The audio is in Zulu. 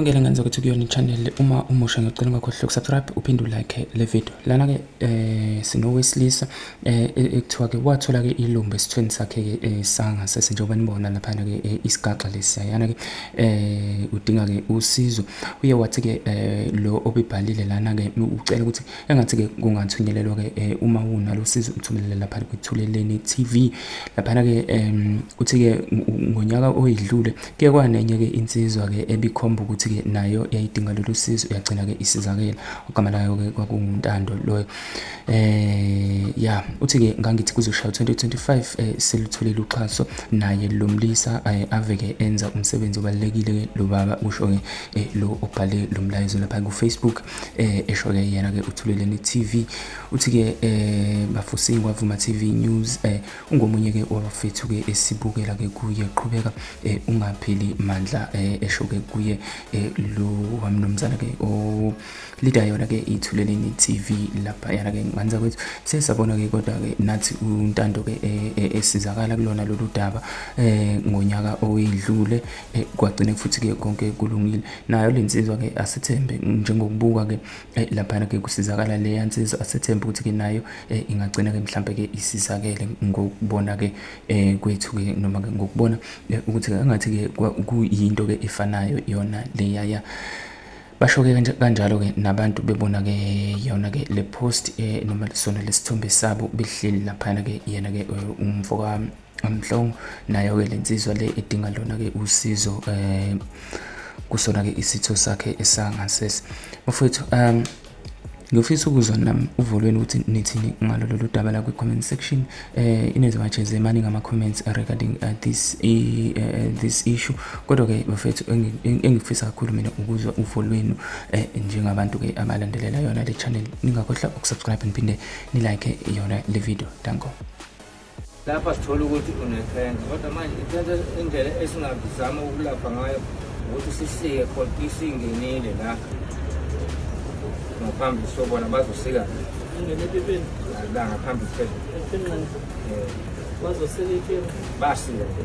Ngele ngenza ukuthi kuyona i-channel uma umusha ngicela ungakhohlwa ukusubscribe uphinde ulike le video. Lana ke eh sinowesilisa eh e, ekuthiwa ke wathola ke ilumbe esithweni sakhe ke eh, sangasese njengoba nibona lapha ke eh, isigaxa lesiyana ke eh udinga ke usizo. Uye wathi ke eh, lo obibhalile lana ke ucela ukuthi engathi-ke kungathunyelelwa-ke eh, uma unalo sizo uthumelele lapha kwithuleleni TV laphana-ke um uthi-ke ngonyaka oyidlule kuye kwanenye-ke insizwa-ke ebikhomba ukuthi-ke nayo yayidinga lolu sizo yagcina-ke isizakela ogama layo-ke kwakunguntando loyo eh ya uthi-ke ngangithi kuzoshaya 2025 um eh, selutholile uxhaso naye lo mlisa eh, aveke enza umsebenzi obalulekile-ke lo baba kusho-ke eh, lo obhale lo mlayezo lapha kufacebook eh esho-ke yena-ke uthuleleni TV uthi-ke eh bafusi kwavuma TV News eh ungomunye-ke wabafethu-ke esibukela-ke kuye qhubeka eh ungapheli mandla eh esho-ke kuye eh lo wamnumzana-ke o lida yona-ke ithuleleni TV lapha yana-ke nganza kwethu sesabona-ke kodwa-ke nathi untando-ke eh, eh, esizakala kulona lolu daba eh ngonyaka owedlule Eh, kwagcine futhi ke konke kulungile nayo le nsizwa ke asethembe njengokubuka ke eh, laphana ke kusizakala le yansizwa asethembe ukuthi ke nayo eh, ingagcina ke mhlambe ke isizakele ngokubona ke kwethu ke noma ke ngokubona ukuthi angathi ke kuyinto ke efanayo yona le yaya basho ke kanjalo ke nabantu bebona ke yona ke le post noma sona lesithombe sabo behleli laphana ke yena ke umfoka Amhlong nayo ke lensizwa le edinga lona ke usizo eh kusona ke isitho sakhe esangasese. Mfowethu um Ngiyofisa ukuzwa nami uvolweni ukuthi nithini ngalo lolu daba la kwi-comment section eh ineziwatshe zemani ngama-comments regarding uh, this, uh, this issue kodwa-ke bafethu engifisa kakhulu mina ukuzwa uvo lwenu eh, njengabantu-ke abalandelela yona le channel ningakhohlwa ukusubscribe niphinde nilike yona le video danko Lapha sithola ukuthi unekhensa kodwa manje ikhensa indlela esingazama ukulapha ngayo ukuthi sisike khona isingenile la ngaphambi sobona bazosika la ngaphambi phezulu eh. basika